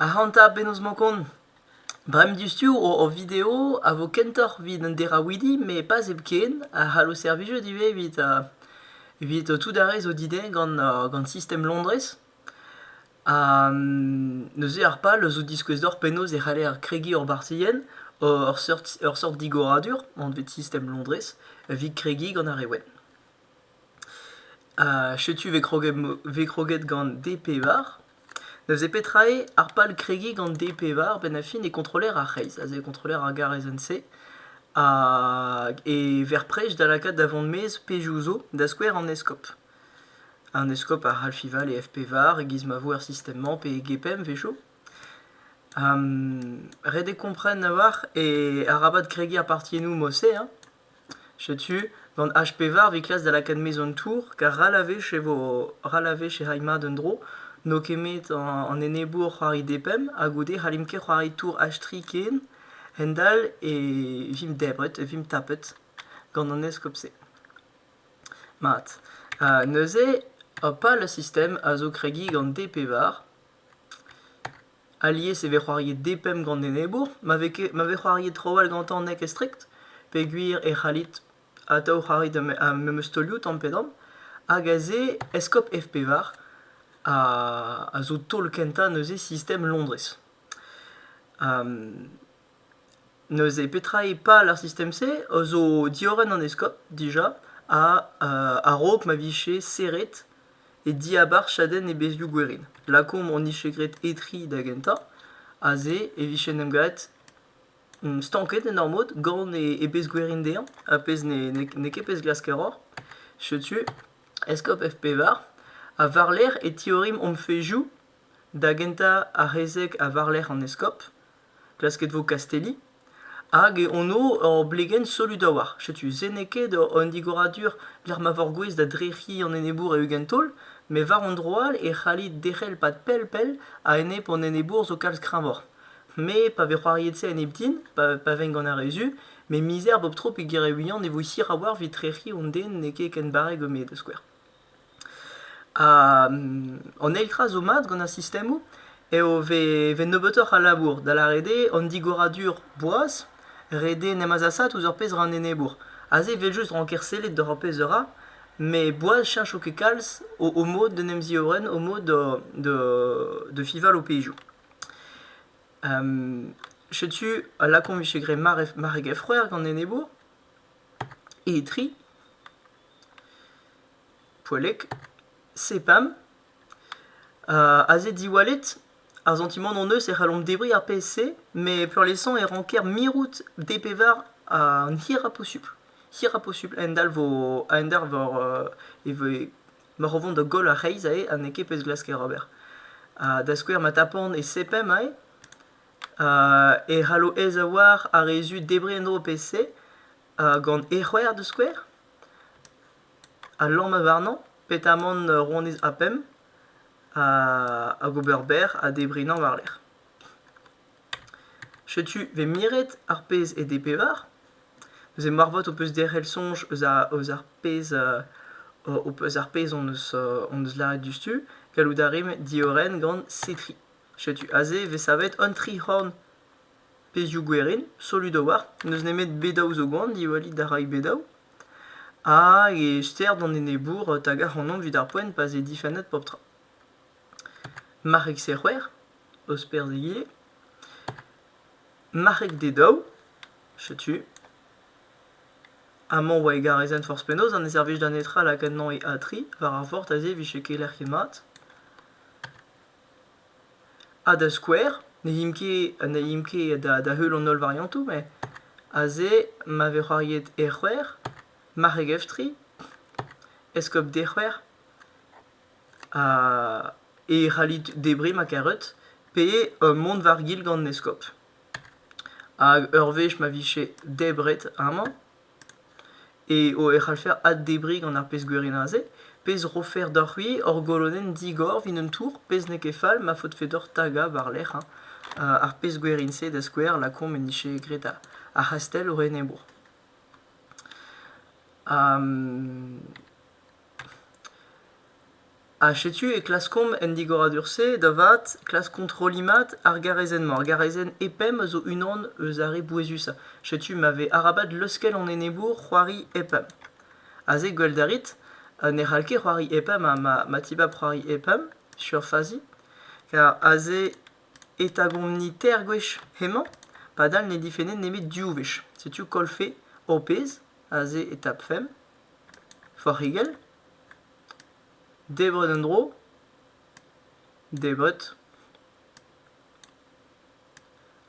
Ac'hanta penaos 'mañ kont ? Bremañ diouzhtu hor video a vo kentoc'h evit an deraouidi met pas hepken a c'hallo servijout ivez evit evit tout ar re zo didezhe gant gant sistem Londrez. Ha neuze ar pal zo diskouez deoc'h penaos e c'haller kregiñ hor barzilhenn ur seurt ur seurt digoradur anvet sistem Londrez evit kregiñ gant ar re wenn. Setu vez kroget vez kroget gant D-pevar. Neuze petra eo ar pal kregiñ gant D-pevar a-benn ar fin eo kontroller ar c'hreiz aze eo kontroller ar garezenn-se e verr-prej da lakaat da vont maez pezhioù zo da skouer an eskob. An eskob a c'hall fiñval e F-pevar e-giz ma vo er sistem-mañ pe e Gepem evesho. Ret eo kompren a-walc'h e arabat kregiñ ar partiennoù mod-se hein. Setu, gant H-pevar 'vit klask da lakaat maez an tour, kar ral a wech e vo ral a wech e ray mat un dro. N'eo ket 'met an enebour c'hoari D-pemp ha goude 'hallimp ket c'hoari tour H-tri ken. Hendall e vimp debret, vimp tapet gant an eskob-se. Mat. neuze, hopal, ar sistem a zo kregiñ gant D-pevar. Alies e vez c'hoariet depemp gant enebour ma vez ket ma vez c'hoariet trawalc'h gantañ n'eo ket strikt peogwir e c'hallit atav c'hoari da memes taolioù tamm pe damm hag aze Eskop F-pevar a zo taol kentañ neuze sistem Londrez. Neuze petra eo pal ar sistem-se zo diorren an eskob dija ha a-raok ma vije serret e diabarzh chadenn e bezhioù gwerin. Lakaomp hon dije graet Etri da gentañ. Aze e vije en em gavet stanket en ur mod gant e bezh gwerin dezhañ, ar pezh n'eo ket pezh glask a ra. Setu eskob F-pevar. Ha war-lerc'h e tiorrimp hom fezhioù da gentañ ar c'hezeg ha war-lerc'h an eskob. klasket 'vo kastelliñ hag e anv ur blegenn solut a-walc'h. Setu se n'eo ket un digoradur lec'h ma vor gouez da drec'hiñ an enebour e-ugent taol, met war an dro all e c'hallit derc'hel pad pell-pell a-enep an enebour zo kalz kreñvoc'h. Me pa vez c'hoariet se a-enep din, pa vegn gant ar re zu, met mizer bep tro peogwir e ouien e vo hir a-walc'h evit trec'hiñ an den n'eo ket ken barrek eo me da skouer. An eil tra zo mat gant ar sistemoù eo e vez nebeutoc'h a labour, da lâret eo an digoradur boaz, ret eo en em azasaat ouzh ur pezh ra an enebour. Aze evel just ranker sellet doc'h ar pezh a ra, met boaz cheñcho ket kalz o mod d'en em ziorren, o mod da fiñval ho pezhioù. Setu a lakaomp e vije graet mare gefc'hwer gant an enebour. Etri, poellek, sepam. aze diwallet, ar santimant hon-eus e c'hallomp debriñ ar pezh-se, met peurliesañ e ranker mirout DPVAR an hirañ posupl. Hirañ posupl a-hend-all vo a-hend-all war e voe ma ro vont da goll ar reizh aze ha n'eo ket pezh glask ker ober. da skouer ma tapan e sepem aze, e c'hallo aezaouañ ar re zu debriñ en-dro pe-se gant e c'hwec'h da skouer, a lamma warnañ petamant ronez A pemp hag ober berr ha debrinhañ war-lerc'h. Setu 'vez miret ar pezh eo bet pevar, neuze moarvat ho peus derc'hel soñj eus ar eus ar pezh eus ar pezh hon eus hon eus lâret diouzhtu, gallout a rimp diorren gant Cetri. Setu aze e vez savet an tri c'horn. Pezhioù gwerin, solud a-walc'h, n'eus nemet bedaoù zo gwan, diwallit a ray bedaoù. Hag e ster d'an enebour tagañ ac'hanomp evit ar poent pa'z eo difennet pep tra. Marc'heg serc'hwer, osperz egile. Marc'heg dedaou, setu. Amañ 'oa egarezenn forzh penaos ha ne servij da netra lakaat 'nañ e A3 war ar vort aze e vije keler ket mat. Ha da skouer, ne imp ket ha ne imp ket da da heul an holl variantoù met aze ma vez c'hoariet e-c'hwec'h, marc'heg-eftri, eskob dec'hwec'h ha e c'hallit debriñ ma karet pe mont war-gil gant an eskob. Hag ur wech ma vije debret amañ. eo e c'hallfer addebriñ gant ar pezh gwirionez-se, pezh 'rofer deoc'h-c'hwi hor golodenn digor 'vit un tour, pezh n'eo ket fall ma faotfe deoc'h tagañ war-lerc'h hein, ar pezh gwirin-se da skouer lakaomp en dije graet ar c'hastell o enebour. Ha setu e klaskomp en digoradur-se da vat klask kontrolliñ mat ar garazenn-mañ. Ar garazenn E-pemp a zo unan eus ar re bouezusañ. Setu ma vez arabat leuskel an enebour c'hoari E-pemp. Aze gwellet a rit ne c'hall ket c'hoari E-pemp ha ma, ma tibab c'hoari E-pemp sur fazi. Kar aze e tagomp-ni teir gwech hemañ padal ne difenne nemet div wech. Setu kollfe ho pezh aze e tapfemp. forc'higell, debret en-dro, debret,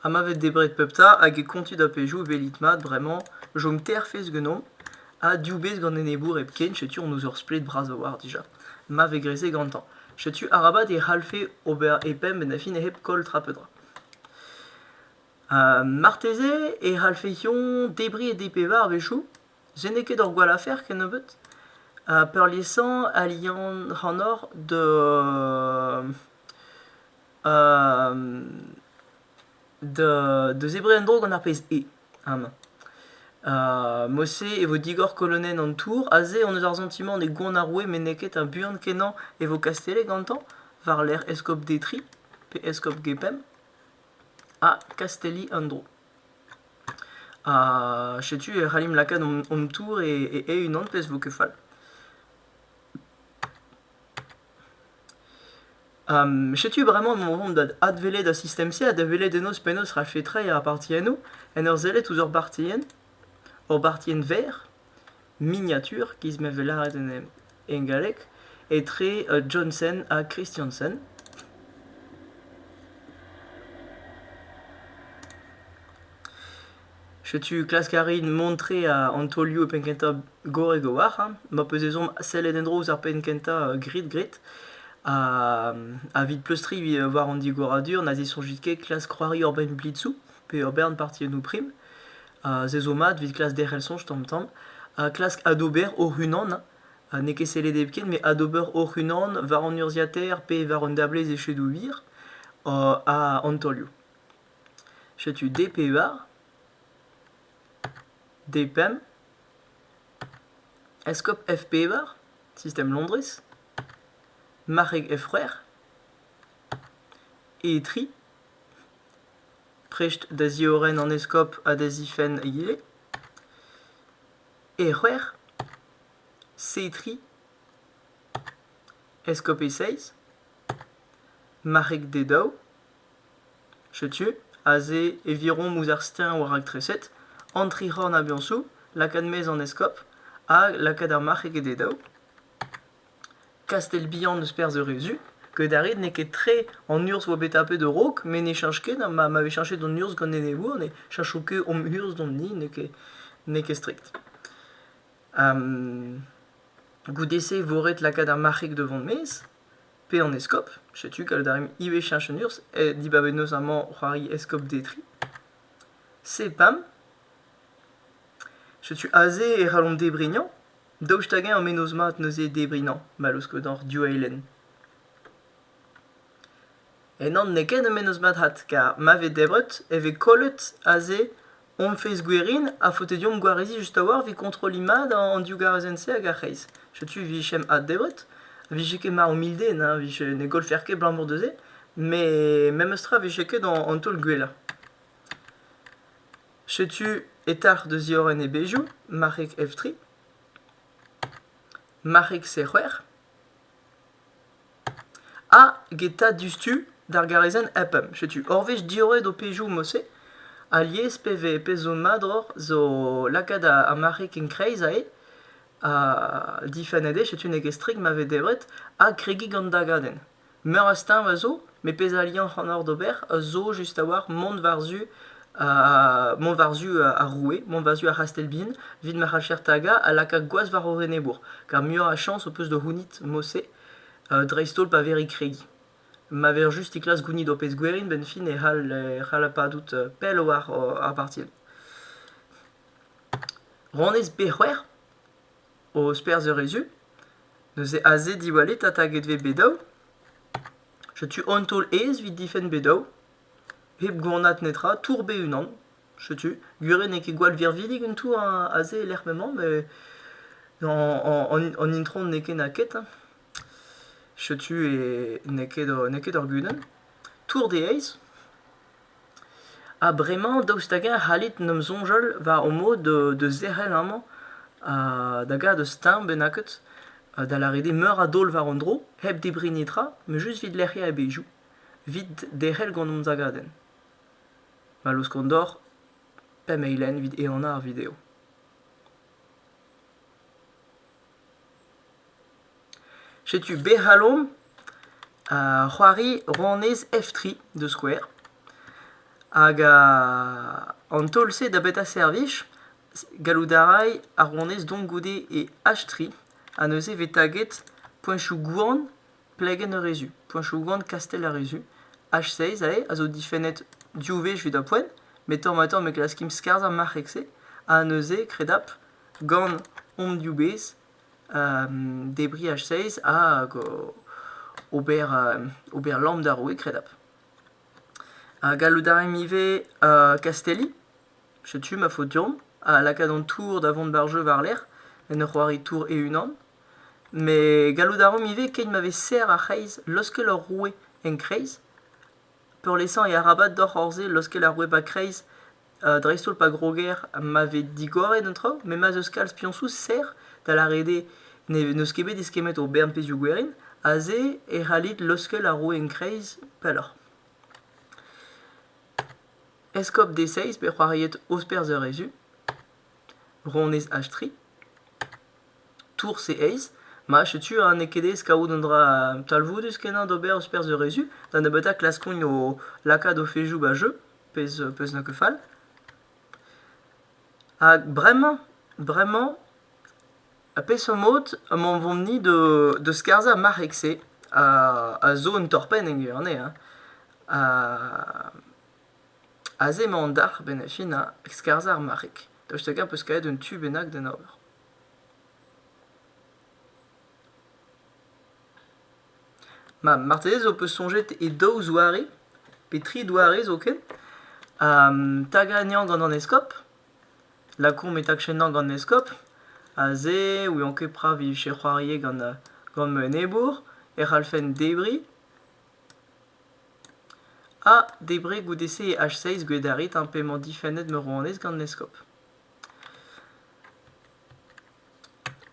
ha ma vez debret pep ta hag e kontit ar pezhioù e welit mat bremañ chom teir fezh ganeomp ha div bezh gant enebour hepken setu hon eus ur splet bras a-walc'h dija ma vez graet se gantañ setu arabat e c'hallfe ober e pemp en da fin hep koll tra pe dra marteze e c'hallfeont debriñ e dp war a-wechoù Je n'eo ket ur gwall afer kennebeut ha peurliesañ a lian ac'hanoc'h da da zebriñ en-dro gant ar pezh E amañ. Mod-se e vo digor kolonenn an tour. Aze hon eus ar santimant on eo gwan ar roue met n'eo ket ha buan-kenañ e vo kastellet gantañ war-lerc'h eskob Detry pe eskob Gepemp ha kastelliñ an dro. Ha setu e c'hallimp lakaat hon tour e-unan pezh vo ket fall. setu bremañ emañ o vont da adwelet ar sistem-se ha da welet ennoz penaos 'rafe treiñ ar partiennoù en ur sellet ouzh ur bartienn, ur bartienn verr. Miniatur giz ma vez lâret en galleg etre Johnson ha Christiansen. Setu klask a rin mont tre an taolioù e penn-kentañ gorrek a-walc'h, hein. Ma peus ezhomm sellet en-dro ouzh ar penn-kentañ grid-grid ha evit pleustriñ war an digoradur na zisoñjit ket klask c'hoari ur bern blitzoù pe ur bern partiennoù prim. se zo mat evit klask derc'hel soñj tamm-tamm, ha klask adober hoc'h-unan. Ha n'eo ket sellet hepken, met adober hoc'h-unan war an urzhiataer pe war un dablez echedoù wir ha an taolioù. Setu D pe war. D pemp. Eskop F pe war. Système Londres. Marc'heg F c'hwec'h. E tri. prest da ziorren an eskob ha da zifenn ivez. E c'hwec'h, Setri, eskob e seizh, marc'heg d'e daou, setu aze e virom ouzh ar steuñv war raktreset, an tric'horn a-biañsoù, lakaat mezh an eskob, ha lakaat ar marc'heg d'e daou. Kastell-Bihan eus perzh Eurezu, ket a rit n'eo ket tre an urzh 'oa bet tapet a-raok met ne cheñch ket ma ma vez cheñchet an urzh gant enebour ne cheñcho ket hom urzh d'hon hini n'eo ket n'eo ket strikt. Goude-se e vo ret lakaat ar marc'heg devant maez pe an eskob, setu gallout a rimp ivez cheñch an urzh ha dibabet 'neus amañ c'hoari eskob Detri. Sepam, setu aze e c'hallomp debriñ hañ. Daoust hag-eñ ur mennozh mat neuze debriñ nañ ma laoskodoc'h div eilenn? Ennañ n'eo ket ur mennozh mat-vat kar ma vez debret e vez kollet aze hon-fezh gwerin ha faote deomp gwareziñ just a-walc'h evit kontrolliñ mat an div garezenn-se hag ar c'hreiz. Setu 'vijemp addebret, 'vije ket mar humilde na 'vije ne gollfec'h ket 'balamour da se, met memes tra 'vije ket an taol gwellañ. Setu etac'h da ziorren e bezhioù, marc'heg F tri, marc'heg C c'hwec'h, ha get 'ta diouzhtu d'ar garazenn E-pemp. Setu ur wech diorret ho pezhioù mod-se alies pe vez pezh zo mat oc'h zo lakaat ar marc'heg en-kreiz aze ha difennet eo setu n'eo ket strik ma vez debret ha kregiñ gant dagadenn. Meur a steuñv a zo, met pezh a liañ ac'hanoc'h d'ober a zo just a-walc'h mont war-zu uh, mont war-zu uh, ar roue, mont war-zu ar c'hastell-bihan, evit ma c'hallfec'h tagañ ha lakaat gwaz war hor enebour. Kar muioc'h a chañs ho peus da c'hounit mod-se, uh, dreist-holl pa vec'h e kregi. Ma vec'h just e klask gounit ho pezh gwerin, benn-fin e c'hall e c'hall padout uh, pell war ar parti. Ranez pe c'hwec'h? Ho sperzh a rez-tu? Neuze aze diwallit ha taget vez bet-daou? Setu un taol aes 'vit difenn bet-daou. Hep gwanat netra, tour bet unan. Setu, gwir eo n'eo ket gwall virvidik un tour a- aze e-lec'h m'emañ, met an an- an itron n'eo ket na ket hein. Setu eo n'eo ket ur n'eo ket ur gudenn. Tour de Heiz. Ha bremañ daoust hag-eñ e c'hallit 'n em soñjal war ho mod da zerc'hel amañ da gaout ur steuñv bennaket da lâret eo meur a daol war un dro hep debriñ netra met just evit lec'hiañ e bezhioù, evit derc'hel gant hon zagadenn. Ma laoskan deoc'h pemp eilenn evit ehanañ ar video. Setu bec'h alomp c'hoari ronez F3 da skouer. Hag an taol-se da betra servij ? Gallout a ray ar ronez dont goude e H3 ha neuze e vez taget poeñchoù gwan plegenn Arezu, poeñchoù gwan kastell Arezu. H6 aze a zo difennet div wech evit ar poent, met tamm-ha-tamm e klaskimp skarzhañ marc'heg-se ha neuze, kredapl. gant hom diwezh, debriñ H6 hag ober ober lamm d'ar roue kredapl. Gallout a raimp ivez kastelliñ, setu ma faot deomp, ha lakaat an tour da vont war-jeu war-lerc'h, en ur c'hoari tour e-unan. Met gallout a raomp ivez, keit ma vez serr ar c'hreiz, laoskel hor roue en kreiz, peurliesañ e arabat deoc'h hor se laoskel ar roue 'ba kreiz dreist-holl pa groger ma vez digoret an traoù, met ma 'z eus kalz piañsoù serr, da lâret eo n'eus ket bet eskemmet o bern pezhioù gwerin, aze e c'hallit leuskel ar roue en-kreiz pelloc'h. Eskob Deseiz bet c'hoariet Osperzh eur Ezu, Ronez Achtri, Tours e Eiz, ma setu ha n'eo ket aes kavout un dra talvoudus-kenañ d'ober Osperzh eur Ezu, da nebeutañ klaskont o lakaat o fezoù 'ba jeu. pezh peus na ket fall. Hag bremañ, bremañ, ar peseurt mod emañ o vont-ni da skarzhañ ar marc'heg-se a zo un torr-penn en gwir-se hein. Aze emañ an dalc'h bennafi na skarzhañ ar marc'heg. Daoust hag-eñ peus kavet un tu bennak d'en ober? Ma, marteze zo peus soñjet e daou zoare, pe tri doare zoken, ha tagañ gant an eskob, lakaomp e tagchenañ gant an eskob, aze e ouian ket petra e vije c'hoariet gant gant ma enebour, e c'hallfen debriñ, ha debriñ goude-se e H6 gwedarit p'emañ difennet ma rouanez gant an eskob.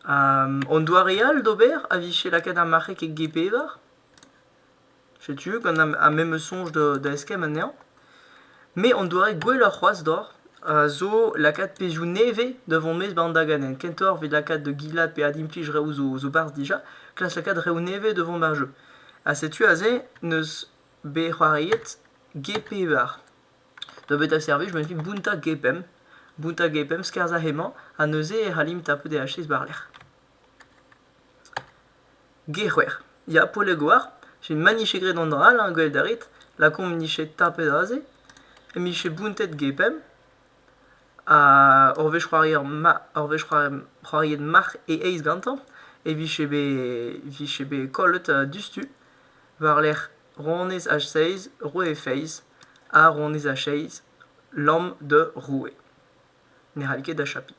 An doare all d'ober a vije lakaet ar marc'heg e g-pevar. Setu gant ar memes soñj da eskemm anezhañ. Me an doare gwelloc'h c'hoazh deoc'h a zo lakaat pezhioù nevez da vont maez 'ba an daganenn. Kentoc'h evit lakaat da gilat pe adimplij reoù zo 'barzh dija, klask lakaat reoù nevez da vont 'ba ar jeu. Ha setu aze n'eus bet c'hoariet g-pevar. Da beta servij emañ evit bountañ gepemp, bountañ gepemp, skerzhañ hemañ ha neuze e c'hallimp tapout e hachez war-lerc'h. G-c'hwec'h. Ya, Polegoar, jen maniche graet an dra all, hein, gwelet a rit, lakaomp 'nije tapet aze, mije bountet gepemp, ha ur wech c'hoarier ma- ur wech c'hoari- c'hoariet marc'h e eizh gantañ e vije bet vije bet kollet diouzhtu war-lerc'h Ronez ha seiz, roue feiz, ha ronez ha seiz, lamm da roue. Ne c'hall ket achapiñ.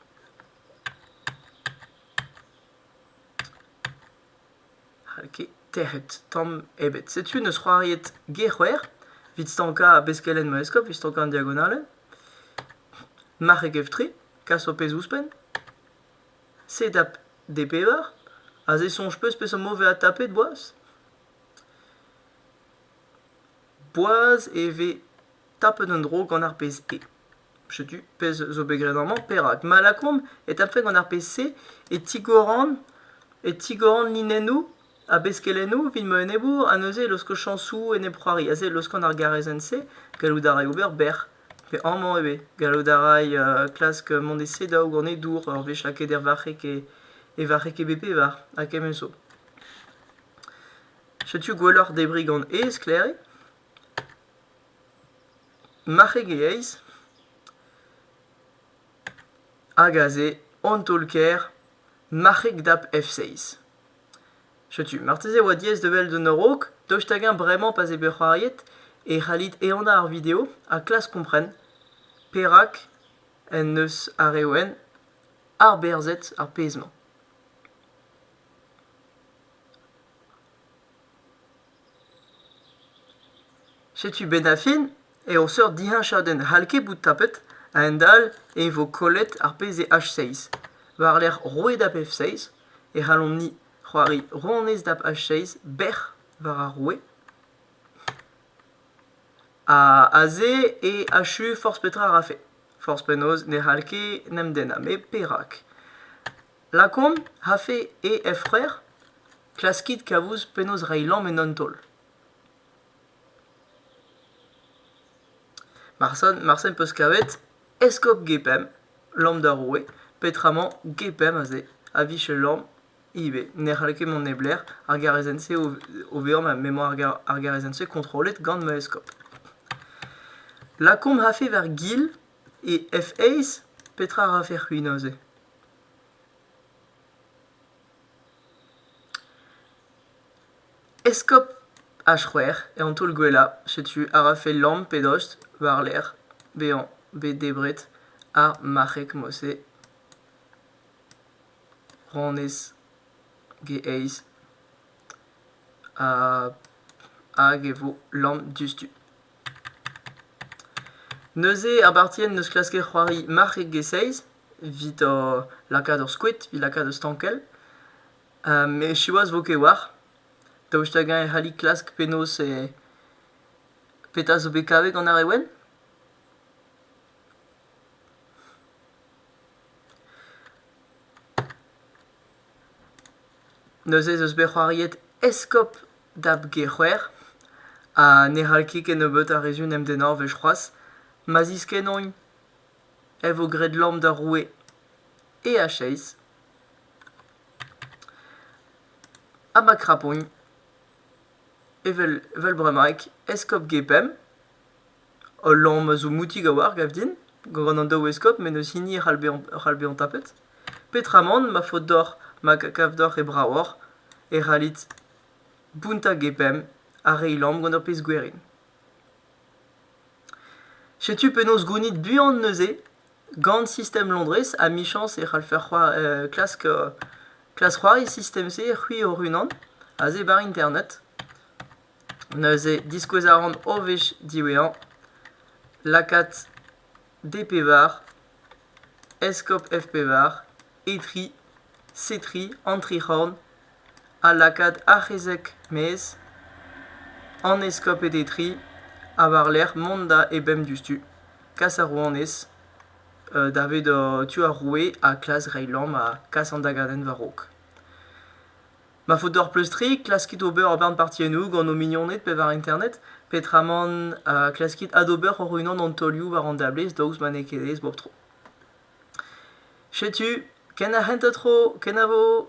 N'hall ket tec'het tamm ebet. Setu neus c'hoariet Gec'hwer, evit stankañ beskelenn ma eskob, evit stankañ an diagonalel. Marc'heg F3, kas ho pezh ouzhpenn. Sedap D pevar, aze soñj peus peseurt mod 'vez adtapet boaz? Boaz e vez tapet un dro gant ar pezh-se. Setu pezh zo bet graet amañ. Perak? Malakom e tapfe gant ar pezh-se e tigoran e tigoran linennoù ha beskelennoù evit ma enebour ha neuze e laosko chañsoù enep-c'hoari. Aze e laoskan ar garezenn-se. Gallout a ray ober bec'h. Pe amañ ivez. Gallout a ray klask mont e sedaou gant e dour ur wech lakaet er varc'heg e varc'heg e bep pevar ha kement zo. Setu gwelloc'h debriñ gant aes Klerre, marc'heg e aes, hag aze an taol-kaer marc'heg dap F6. Setu, marteze e oa diaes da wel d'un a-raok, daoust hag-eñ bremañ pa 'z eo bet c'hoariet e c'hallit ehanañ ar video ha klask kompren perak en deus ar re wenn arberzhet ar pezh-mañ. Setu 'benn ar fin eo seurt diheñchadenn c'hall ket bout tapet a-hend-all e vo kollet ar pezh eo H6. War-lerc'h roet ap F6 e c'hallomp-ni c'hoari ronez dap H6 bec'h war ar roue. Ha aze eo achu forzh petra a rafe. Forzh penaos ne c'hall ket 'n em dennañ met perak? Lakaomp afe he efc'hwer, klaskit kavout penaos reiñ lamm en un taol. Marse am peus kavet eskob Gepemp, lamm d'ar roue, petramañ Gepemp aze a vije lamm ivez, ne c'halle ket mont neblec'h, ar garazenn-se o vezañ ma m'emañ ar garazenn-se kontrollet gant ma eskob. Lakaomp afe war gil E F-eizh petra a rafe c'hwi neuze ? Eskob H-c'hwec'h eo an taol gwellañ. Setu a rafe lamm pe dost war-lerc'h bezañ bet debret ar marc'heg-mose ranez G-eizh hag e vo lamm diouzhtu. Neuze abartien n'eus klasker c'hoari marc'heg e-seizh evit lakaat ur skoed evit lakaat ur stankell. met siwazh 'vo ket war. Daoust hag-eñ e c'halli klask penaos e petra zo bet kavet gant ar re wenn? Neuze ez eus bet c'hoariet eskob da g-c'hwec'h ha ne c'hall ket kennebeut a rezun em dennañvezh c'hoazh. Ma ziskennont e vo graet lamm d'ar roue e a cheizh. Ha ma krapont evel evel bremaik eskob G-Pemp. Ul lamm a zo moutik a-walc'h gav din gant an daou eskob met n'eus hini e c'hall bezañ c'hall bezañ tapet. Petramant ma faot deoc'h ma kav deoc'h e bravoc'h e c'hallit Bounta hag e bemp a reiñ lamm gant ur pezh gwerin. Setu penaos gounit buan neuze gant sistem Londrez amichañs e c'hallfer c'hoar- klask klask c'hoari sistem-se c'hwi hoc'h-unan aze bar internet. Neuze diskouez a ran o wech diwezhañ lakaat D-Pevar, Eskob F-Pevar, Etri, Setri, Antrec'horn ha lakaat Arc'hezek-Maez an eskoped Etri ha war-lerc'h mont da ebemp diouzhtu, kas ar rouanez davet tu ar roue ha klas reiñ lamm ha kas an dagadenn war-raok. Ma faot deoc'h pleustriñ, klaskit ober ur bern partiennoù gant ho mignoned pe war internet, petraman uh, klaskit adober hoc'h-unan an taolioù war an dablez daoust ma n'eo ket aes bep tro. Setu, ken ar c'hentañ tro, kenavo!